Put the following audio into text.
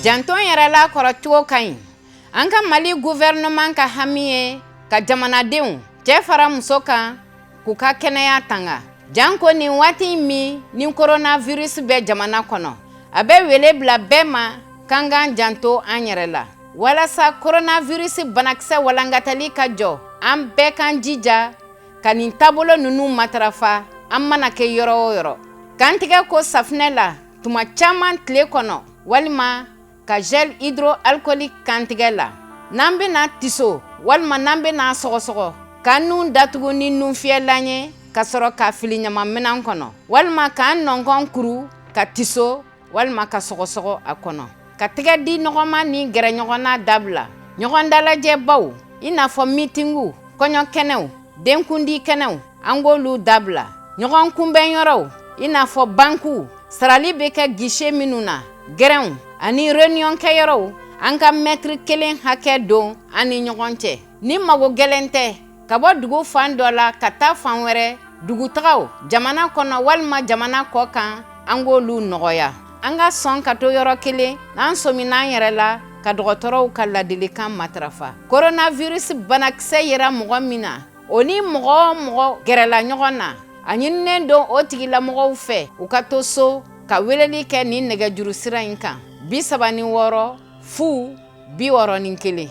janto yɛrɛ la kɔrɔcogo ka ɲi an ka mali guvɛrɛnɛman ka hami ye ka jamanadenw cɛ fara muso kan k'u ka kɛnɛya tanga janko nin waati min ni koronavirus bɛ jamana kɔnɔ a bɛ wele bila bɛɛ ma k'an k'an janto an yɛrɛ la walasa koronavirus banakisɛ walankatali ka jɔ an bɛɛ k'an jija ka nin taabolo ninnu matarafa an mana kɛ yɔrɔ o yɔrɔ k'an tɛgɛ ko safinɛ la tuma caman tile kɔnɔ walima ka gel hydroalcoolique k'an tɛgɛ la n'an bɛna tiso walima n'an bɛna sɔgɔsɔgɔ k'an nun datugu ni nunfiyɛlan ye ka sɔrɔ k'a fili ɲamanminan kɔnɔ walima k'an nɔnkɔn kuru ka tiso walima ka sɔgɔsɔgɔ a kɔnɔ ka tɛgɛ di ɲɔgɔn ma ni gɛrɛ ɲɔgɔn na dabila ɲɔgɔn dalajɛbaw i n'a fɔ mitinguw kɔɲɔ kɛnɛw denkundi kɛnɛw an k'olu dabila ɲɔgɔn kunbɛn yɔrɔw i n'a fɔ bankiw sarali bɛ kɛ gise minnu na gɛrɛnw ani reniyɔn kɛyɔrɔw an ka mɛtiri kelen hakɛ don an ni ɲɔgɔn cɛ ni mago gɛlɛn tɛ ka bɔ dugu fan dɔ la ka taa fan wɛrɛ dugutagaw jamana kɔnɔ walima jamana kɔ kan an k'olu nɔgɔya an ka sɔn ka to yɔrɔ kelen n'an sɔmin'an yɛrɛ la ka dɔgɔtɔrɔw ka ladilikan matarafa koronavirus banakisɛ yera mɔgɔ min na O ni mɔgɔ o mɔgɔ gɛrɛla ɲɔgɔn na a ɲininen don o tigilamɔgɔw fɛ u ka to so ka weleli kɛ nin nɛgɛjuru sira in kan bi saba ni wɔɔrɔ fu bi wɔɔrɔ ni kelen